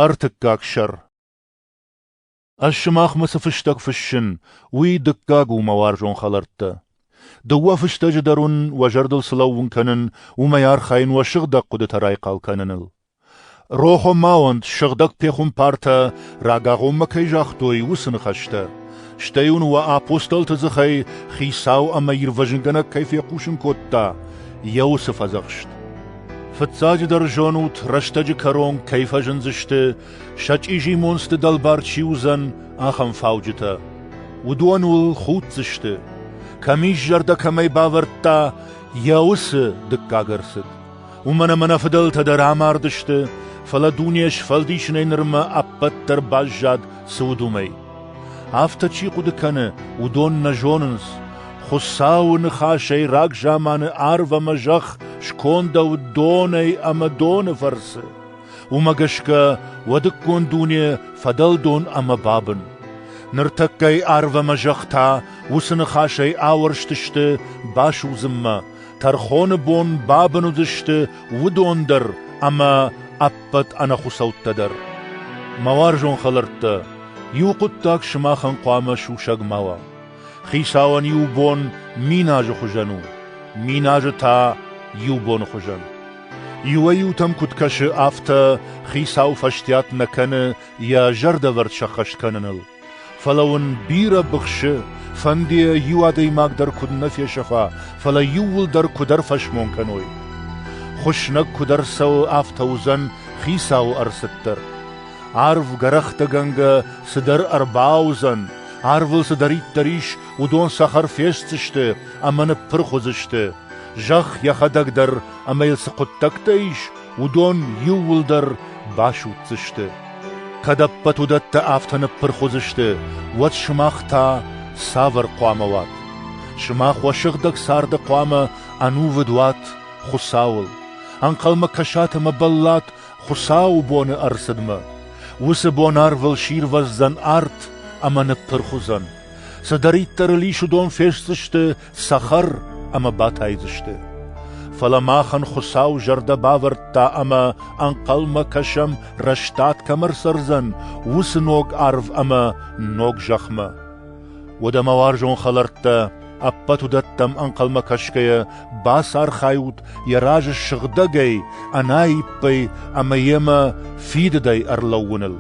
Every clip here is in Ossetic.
Ӕртыккаг сӕр Ӕз сымахмӕ цы фыстӕг фыссын, уый дыккаг у, мӕ уарзон хӕлӕрттӕ. Дыууӕ фыстӕджы дӕр уын уӕ зӕрдыл цы лӕууын кӕнын, уымӕй архайын уӕ сыгъдӕг хъуыдытӕ райхъал кӕныныл. Рохо ма уӕнт, сыгъдӕг пехуымпартӕ рагагъоммӕ кӕй загътой, уыцы ныхӕстӕ. Стӕй уын уӕ апостолты дзыхӕй Хицау ӕмӕ Ирвӕзынгӕнӕг кӕй фехъусын кодта, йӕ уыцы фӕдзӕхст. Фыццаджыдӕр зонут, рӕстӕджы кӕрон кӕй фӕзындзысты, сӕ чъизи монцты дӕлбар чи уыдзӕн, ахӕм фауджытӕ. Уыдон уыл худдзысты, кӕм ис зӕрдӕ кӕмӕй бавӕрдта йӕ уыцы дыккаг ӕрцыд. Уымӕн ӕмӕ нӕ фыдӕлтӕ дӕр амардысты, фӕлӕ дуне сфӕлдисынӕй нырмӕ ӕппӕт дӕр баззад цы уыд, уымӕй. Афтӕ чи хъуыды кӕны, уыдон нӕ зонынц. Хуыцауы ныхасӕй рагзаманы арв ӕмӕ зӕхх скондӕуыд донӕй ӕмӕ доны фӕрцы. Уымӕ гӕсгӕ уӕдыккон дуне фӕдӕлдон ӕмӕ бабын. Ныртӕккӕ арв ӕмӕ зӕхх та уыцы ныхасӕй ауӕрстысты басудзынмӕ, Тӕрхоны бон бабын уыдысты уыдон дӕр ӕмӕ ӕппӕт ӕнӕхуыцӕуттӕ дӕр. Мӕ уарзон хӕлӕрттӕ, иу хъуыддаг сымахӕн хъуамӕ сусӕг ма уа. Хицауӕн иу бон мин азы хуызӕн у, мин азы та иу боны хуызӕн. Иуӕй-иутӕм куыд кӕсы, афтӕ Хицау фӕстиат нӕ кӕны йӕ зӕрдӕвӕрд сӕххӕст кӕныныл. Фӕлӕ уын бирӕ быхсы, фӕнды йӕ иу адӕймаг дӕр куыд нӕ фесӕфа, фӕлӕ иууылдӕр куыдӕр фӕсмон кӕной. Хуыснӕг куыдӕр цӕуы, афтӕ уыдзӕн хицауы ӕрцыд дӕр. Арв гӕрӕхтӕгӕнгӕ цыдӕр ӕрбауыдзӕн, арвыл цыдӕриддӕр ис, уыдон цӕхӕр фестдзысты ӕмӕ ныппырх уыдзысты. Зӕхх йӕхӕдӕг дӕр ӕмӕ йыл цы хъуыддӕгтӕ ис, уыдон иууылдӕр басудздзысты. Кӕд ӕппӕт уыдӕттӕ афтӕ ныппырх уыдзысты, уӕд сымах та цавӕр хъуамӕ уат? Сымах уӕ сыгъдӕг царды хъуамӕ ӕнувыд уат Хуыцауыл, ӕнхъӕлмӕ кӕсат ӕмӕ бӕллат Хуыцауы боны ӕрцыдмӕ. Уыцы бонарвыл сирвӕздзӕн арт ӕмӕ ныппырх уыдзӕн. Цыдӕриддӕр ыл ис, уыдон фестдзысты цӕхӕр ӕмӕ батайдзысты. Фӕлӕ махӕн Хуыцау зӕрдӕ бавӕрдта ӕмӕ ӕнхъӕлмӕ кӕсӕм, рӕстад кӕм ӕрцӕрдзӕн, уыцы ног арв ӕмӕ ног зӕхмӕ. Уӕдӕ, мӕ уарзон хӕлӕрттӕ, ӕппӕт уыдӕттӕм ӕнхъӕлмӕ кӕсгӕйӕ, бацархайут йӕ разы сыгъдӕгӕй, ӕнаиппӕй ӕмӕ йемӕ фидыдӕй ӕрлӕууыныл.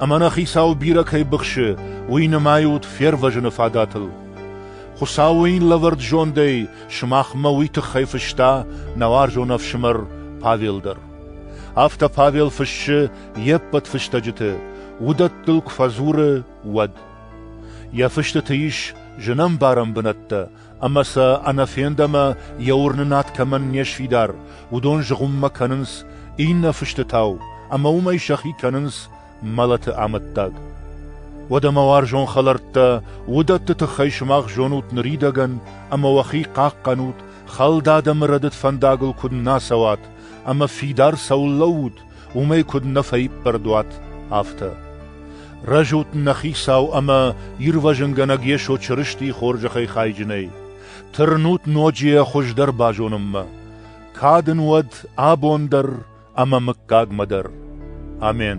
Ӕмӕ нӕ Хицау бирӕ кӕй быхсы, уый нымайут фервӕзыны фадатыл. Хуыцау уын лӕвӕрд зондӕй сымахмӕ уый тыххӕй фыста нӕ уарзон ӕфсымӕр Павел дӕр. Афтӕ Павел фыссы йе ппӕт фыстӕджыты, уыдӕттыл куы фӕдзуры, уӕд. Йӕ фыстыты ис зынӕмбарӕн бынӕттӕ, ӕмӕ сӕ ӕнӕфенд ӕмӕ йӕ уырнынад кӕмӕн не сфидар, уыдон зыгъуыммӕ кӕнынц иннӕ фыстытау, ӕмӕ уымӕй сӕхи кӕнынц мӕлӕты амӕттаг. Уӕдӕ мӕ уарзон хӕлӕрттӕ, уыдӕтты тыххӕй сымах зонут ныридӕгӕн ӕмӕ уӕхи хъахъхъӕнут, хӕлд адӕмы рӕдыд фӕндагыл куыд нӕ цӕуат ӕмӕ фидар цӕуыл лӕуут, уымӕй куыд нӕ фӕиппӕрд уат, афтӕ. Рӕзут нӕ хицау ӕмӕ ирвӕзынгӕнӕг Йесо Чырыстийы хорзӕхӕй хайджынӕй. Тырнут ноджы йӕ хуыздӕр базонынмӕ. Кад ын уӕд абон дӕр, ӕмӕ мыггагмӕ дӕр. Амен.